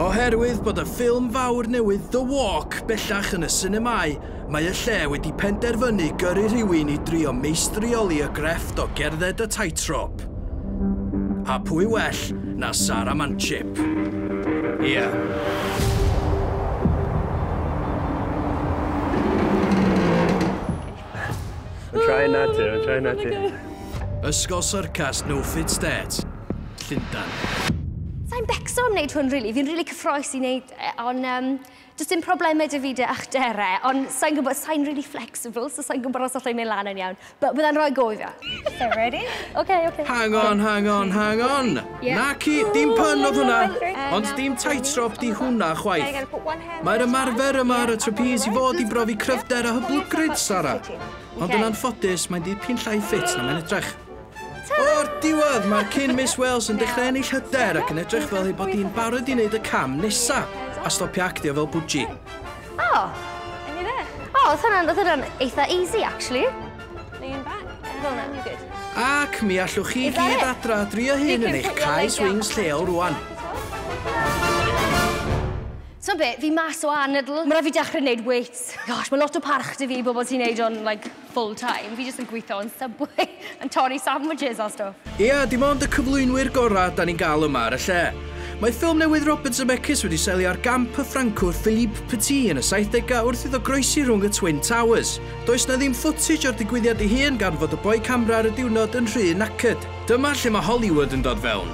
Oherwydd bod y ffilm fawr newydd The Walk bellach yn y sinemâu, mae y lle wedi penderfynu gyrru rhywun i drio meistrioli y grefft o gerdded y tightrope. A pwy well na Sara Manchip? Ie. Yeah. I'm trying not to, I'm trying not to. Ysgol Syrcas No Fit State, Llundain. Sa'n becso am wneud hwn, really. Fi'n really cyffroes i wneud e, ond um, does dim problemau dy fyd a'ch dere, ond sa'n gwybod, sa'n really flexible, so sa'n gwybod os allai'n mynd lan yn iawn. But byddai'n rhoi go i fi. Okay, ready? Okay, okay. Hang on, hang on, hang on! Yeah. Naci, dim pun oedd hwnna, ond dim tightrope di hwnna chwaith. Mae'r ymarfer yma ar y trapeze i fod i brofi cryfder a hyblygryd, Sara. Ond yn anffodus, mae'n dipyn llai ffit na mae'n edrych. O'r diwedd, mae'r cyn Miss Wales yn dechrau ennill hyder ac yn edrych fel ei bod hi'n barod i wneud y cam nesa a stopio actio fel bwji. O! O, oedd hwnna'n eitha easy, actually. Lean back. Fel na, you're good. Ac mi allwch chi gyd adra drio hyn yn eich cae swings lleol rwan. Ti'n be, fi mas o anadl. Mae rhaid fi dechrau gwneud weights. Gosh, mae lot o parch dy fi bobl sy'n neud o'n like, full time. Fi jyst yn gweithio yn Subway yn torri sandwiches a stwff. Ia, dim ond y cyflwynwyr gorau da ni'n gael yma ar y lle. Mae ffilm newydd Robert Zemeckis wedi selio ar gamp y Ffrancwr Philippe Petit yn y 70au wrth iddo groesi rhwng y Twin Towers. Does 'na ddim footage o'r digwyddiad ei hun gan fod y boi camera ar y diwrnod yn rhy knackered. Dyma lle mae Hollywood yn dod fewn.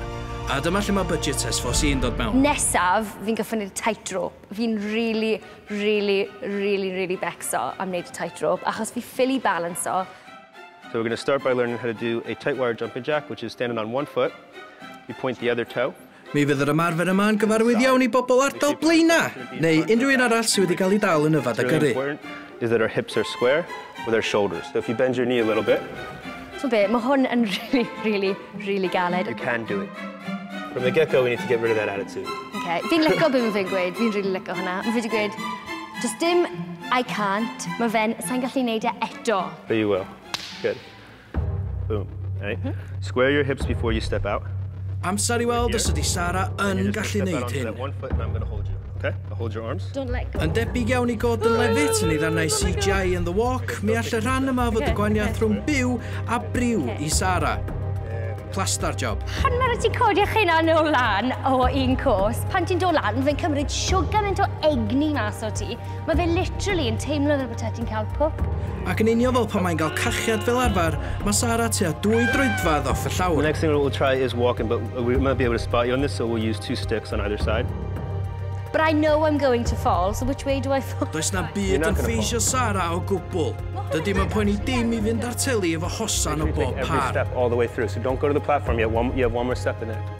A dyma lle mae budget S4C yn dod mewn. Nesaf, fi'n gyfynnu'r tightrope. Fi'n rili, rili, rili, rili becso am wneud y tightrope, achos fi ffili balansio. So we're going to start by learning how to do a tight wire jumping jack, which is standing on one foot, you point the other toe. Mi fydd yr ymarfer yma yn gyfarwydd iawn i bobl ardal Blaenau, neu unrhyw un arall sydd wedi cael ei dal yn yfed a gyrru. is that our hips are square with our shoulders. So if you bend your knee a little bit. T'mod be, ma' hwn yn rili, rili, rili galed. You can do it. From the get go we need to get rid of that attitude. Okay, fi'n lico be ma' fe'n gweud, fi'n rili lico hwnna. Ma' fe 'di gweud, does dim I can't, ma' fe'n, sai'n gallu neud e eto. But you will. Good. Boom. Right. Mm -hmm. Square your hips before you step out. Amser i weld os ydy Sara yn gallu neud hyn. Okay, I'll hold your arms. Don't let go. Yn debyg iawn i god yn lefit yn ei ddannau CGI yn The Walk, mi all y rhan yma fod y gwaniath rhwng byw a briw i Sara. Plaster job. Pan mae'r ti codi eich hynna yn ôl lan o un cwrs, pan ti'n dod lan, fe'n cymryd siwgr yn to egni mas o ti, Mae fe literally yn teimlo fel bod ti'n cael pwp. Ac yn union fel pan mae'n cael cachiad fel arfer, mae Sara tua dwy droedfedd off y llawr. The next thing we'll try is walking, but we might be able to spot you on this, so we'll use two sticks on either side. But I know I'm going to fall, so which way do I fall? Does na byd yn ffeisio Sara o gwbl. Dydy mae'n poeni dim i fynd ar teli efo hosan o bob par. Every step all the way through, so don't go to the platform yet, you have one more step in there.